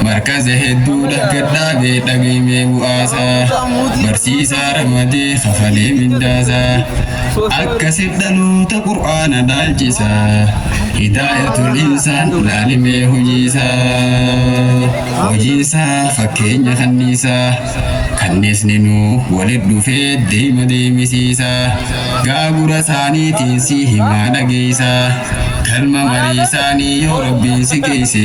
Markaza hedduu dhaggadhaabee dhageemee bu'aasaa barsiisaa ramadee kafalee mindaasaa akkasif dhaloota qur'aana dhaalchisaa hidaayatul insaan laalimee hojiisaa hojiisaa fakkeenya kanniisaa kanniisni nuu walit dhufee deema deemisiisaa gaagura isaaniitiin si himaa dhageeysaa kalma marii isaanii yoo rabbiin si geeyse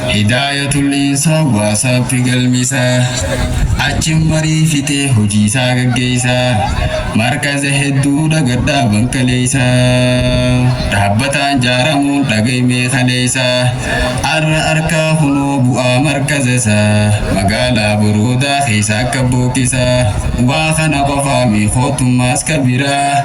Hidaayatul Insa WhatsApp galmisa. Achin marii fixee hojiisaa gaggeessa. Markaza hedduudha gadhaaban kaleessa. Dhaabbataan jaaramuun dhagaymee kaleessa. Arra arkaa kunoo bu'aa markazasa. Magaalaa boroodaa keessa akka bookkisa. Waa kana qofaa miikootummaas ka biraa.